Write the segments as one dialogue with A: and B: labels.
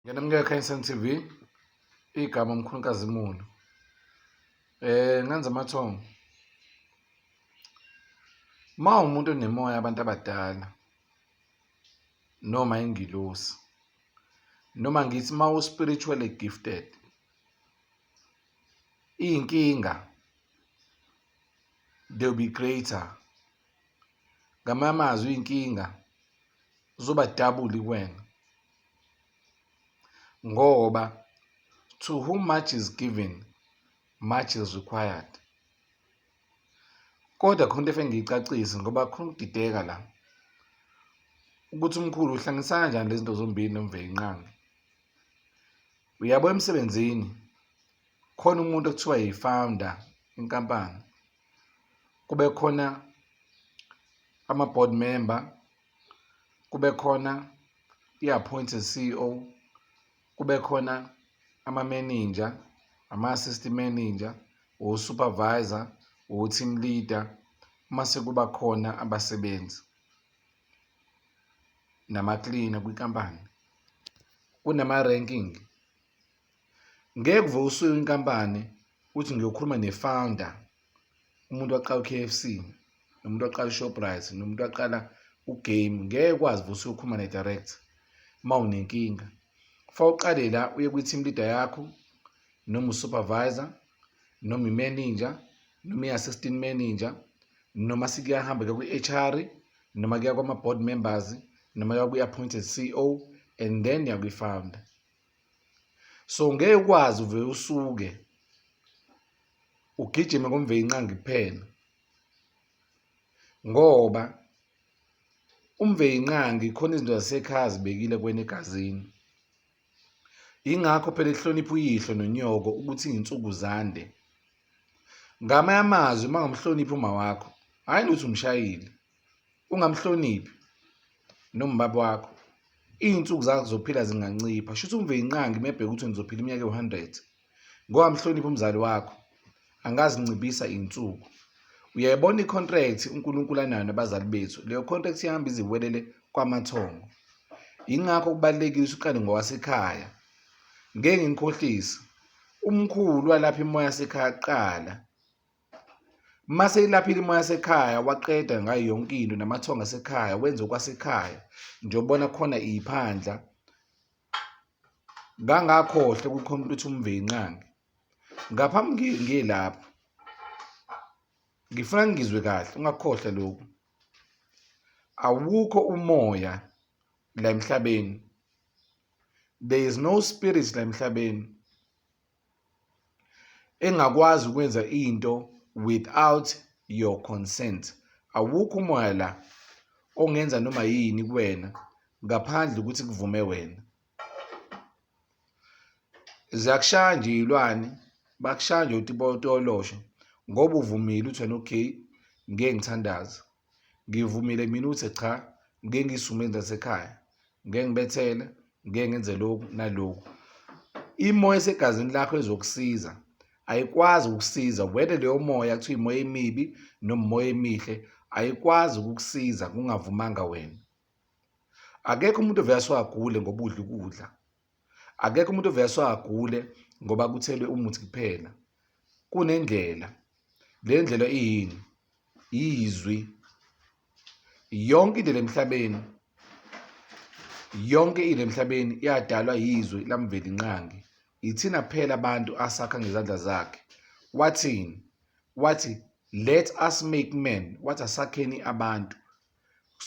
A: Ngiyanemukela eKhanyisani TV. Igama uMkhulukazi Mulu. Eh ngenza amathongo. Uma umuntu onemoya abantu abadala noma ingilosi noma ngithi uma u-spiritually gifted iy'nkinga they'll be greater ngamanye amazwi iy'nkinga zoba double kuwena ngoba to whom much is given much is required kodwa khona into efe ngiyicacise ngoba khona ukudideka la ukuthi umkhulu uhlangisa kanjani lezi zinto zombili nomvelinqangi uyabo emsebenzini khona umuntu okuthiwa yi-founder inkampani kube khona ama-board member kube khona i-appointed CEO, kube khona ama-manager, ama-assistant manager, o-supervisor, o-team leader, mase kuba khona abasebenzi namaklina kwinkampani, kunama-ranking. Ngeke uve usuke inkampani uthi ngiyokhuluma ne-founder umuntu waqala u-KFC nomuntu waqala i-Shoprite nomuntu waqala u-game ngeke kwazi ukuthi uyokhuluma ne-direct uma unenkinga fa uqale la uye kwi-team leader yakho noma usupervisor noma imanager noma i-assistant manager noma sikuyahamba ke kwi-HR noma kuya kwama-board members noma kuya kwi-appointed CEO and then yakwi-founder so ngeke ukwazi uve usuke ugijime komveyinqangi kuphela ngoba umveyinqangi khona izinto zasekhaya zibekile kwena egazini ingakho phela ehlonipha uyihlo nonyoko ukuthi nginsuku zande ngamanye amazwi uma ngamhloniphi uma wakho hhayi ukuthi umshayile ungamhloniphi noma ubaba wakho iy'nsuku zakho zokuphila zingancipha shuthi umveyinqangi mebheke ukuthi nizophila iminyaka ewu-hundred ngoba mhloniphi umzali wakho angazincibisa iy'nsuku uyayibona i-contract unkulunkulu anayo nabazali bethu leyo contract ihamba iziwelele kwamathongo yingakho kubalulekile ukuthi uqale ngowasekhaya ngeke ngikhohlise umkhulu walapha imoya sekhaya kuqala Mase ilaphile imoya yasekhaya waqeda ngayo yonke into namathonga asekhaya wenze okwasekhaya njengobona khona iphandla ngangakhohle kukhona ukuthi umvenqange ngaphambi ngilapho ngifuna ngizwe kahle ungakhohle lokhu awukho umoya la emhlabeni there is no spirit la emhlabeni engakwazi ukwenza into without your consent awukho umoya la ongenza noma yini kuwena ngaphandle ukuthi kuvume wena ziyakushaya nje iy'lwane bakushaya nje utibotolosho ngoba uvumile uthi wena okay ngeke ngithandaze Ngivumile mina ukuthi cha ngike ngisume zasekhaya ngike ngibethele ngike ngenze lokhu nalokhu imoya esegazini lakho ezokusiza ayikwazi ukusiza whether leyo moya kuthiwa imoya emibi noma imoya emihle ayikwazi ukukusiza kungavumanga wena akekho umuntu ovele aswagule ngoba udla ukudla akekho umuntu oveswa agule ngoba kuthelwe umuthi kuphela kunendlela le ndlela iyini yizwi yonke indlela emhlabeni yonke into emhlabeni yadalwa yizwi lamveli nqangi yithina phela abantu asakha ngezandla zakhe wathini wathi let us make men wathi asakheni abantu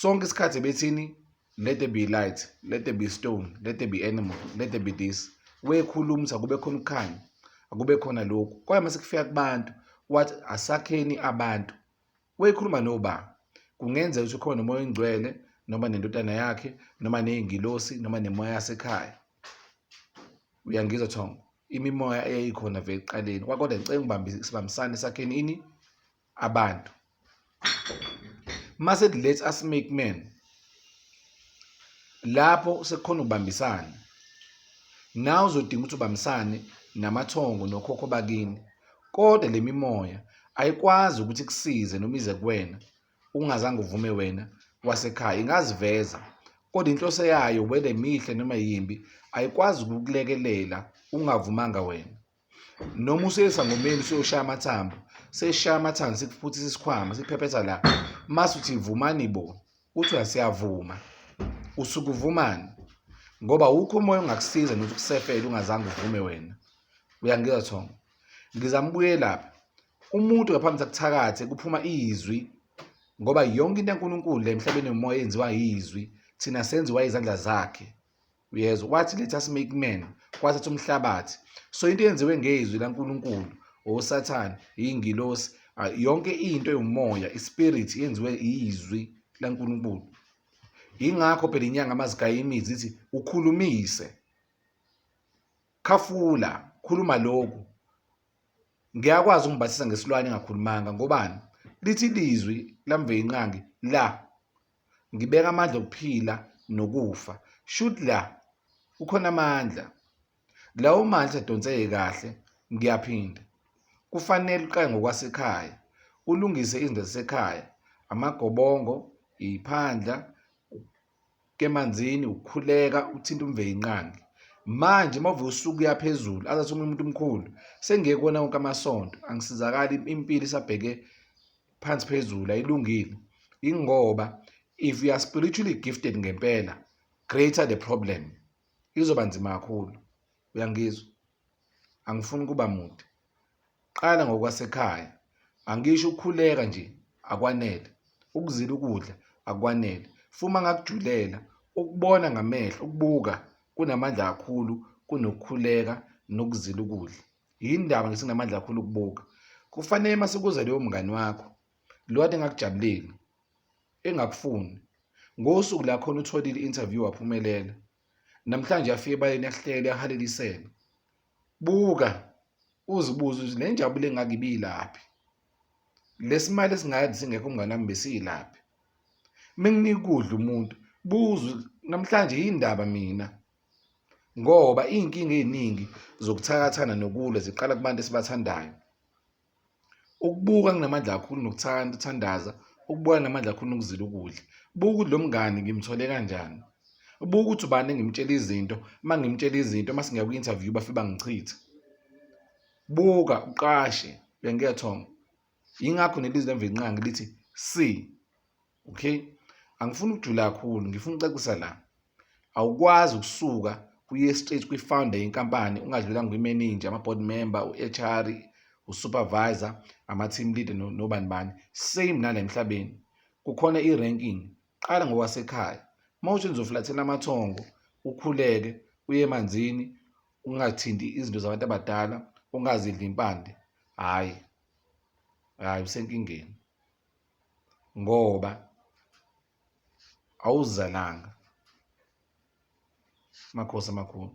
A: sonke isikhathi bethini let there be light let there be stone let there be animal let there be this wekhuluma ukuthi akube khona ukukhanya akube khona lokhu kwaye mase kufika kubantu wathi asakheni abantu wekhuluma noba kungenzeka ukuthi ukhona umoya oyingcwele noma nendodana yakhe noma nezingilosi noma nemoya yasekhaya uyangizwa thongo imimoya eyayikhona vele ekuqaleni kwakodwa ngicela ngibambisane sakheni ini abantu mase let's us make men lapho sekukhona ukubambisana nawe uzodinga ukuthi ubambisane namathongo nokhokho bakini kodwa le mimoya ayikwazi ukuthi kusize noma ize kuwena ungazange uvume wena wasekhaya ingaziveza kodwa inhloso yayo whether mihle noma yimbi ayikwazi ukukulekelela ungavumanga wena noma usesangomeni soshaya amathambo seshaya amathambo sikuphuthisa isikhwama siphephetha la mase uthi vumani bo uthi uyasiyavuma usuke uvumani ngoba wukho umoya ongakusiza nokuthi ukusefele ungazange uvume wena uyangizwa thongo ngizambuye lapha umuntu ngaphambi sakuthakathe kuphuma izwi ngoba yonke into yaNkulunkulu le emhlabeni yomoya yenziwa yizwi thina senziwa izandla zakhe uyezwa wathi letha smake man kwathatha umhlabathi so into eyenziwe ngezwi laNkulunkulu osathane iyingilosi ah, yonke into yomoya ispirit yenziwe izwi laNkulunkulu ingakho phela inyanga amazigaya imizi ithi ukhulumise khafula khuluma lokhu ngiyakwazi ukungibatisa ngesilwane engakhulumanga ngobani lithi lizwi lamve inqangi la ngibeka amandla okuphila nokufa shuthi la kukhona amandla lawo mandla adonseke kahle ngiyaphinda kufanele uqale ngokwasekhaya ulungise izinto zasekhaya amagobongo iphandla kemanzini ukukhuleka uthinta umveyinqangi manje uma uvuka usuku uyaphezulu azathi omunye umuntu omkhulu sengiyekona wonke amasonto angisizakali impilo isabheke phansi phezulu ayilungile ingoba if you are spiritually gifted ngempela greater the problem izoba nzima kakhulu uyangizwa angifuni kuba mude qala ngokwasekhaya angisho ukukhuleka nje akwanele ukuzila ukudla akwanele fuma ngakujulela ukubona ngamehlo ukubuka kunamandla kakhulu kunokukhuleka nokuzila ukudla yindaba ngesinamandla kakhulu ukubuka kufanele uma sekuza leyo mngani wakho lo kade engakujabuleli engakufuni ngosuku la khona utholile i-interview waphumelela namhlanje afike ebaleni ahlele ahalelisele buka uzibuze ukuthi le njabulo engaka ibiyilaphi lesimali esingayazi singekho umngane wami besiyilaphi menginikudla umuntu buza namhlanje yindaba mina ngoba iy'nkinga ey'ningi zokuthakathana nokulwa ziqala kubantu esibathandayo. Ukubuka kunamandla kakhulu nokuthanda ukuthandaza, ukubuka kunamandla kakhulu nokuzila ukudla. Buka ukuthi lo mngani ngimthole kanjani, buka ukuthi ubani engimtshela izinto, uma ngimtshela izinto uma singiya kwi-interview bafike bangichithe. Buka uqashe, uyangiyethonga? Yingakho nelizwi lemvelqangi lithi see okay angifuni ukujula kakhulu ngifuna ucacisa la awukwazi ukusuka kuye straight kwi-founder yenkampani ungadlulanga kwi-manager ama-board member u-hr usupervisor ama-team leader nobani bani same nala emhlabeni kukhona i-ranking qala ngokwasekhaya uma uthi nizofulathela amathongo ukhuleke uye emanzini ungathinti izinto zabantu abadala ungazidli impande hhayi hhayi usenkingeni ngoba awuzalanga. Makhosi amakhulu.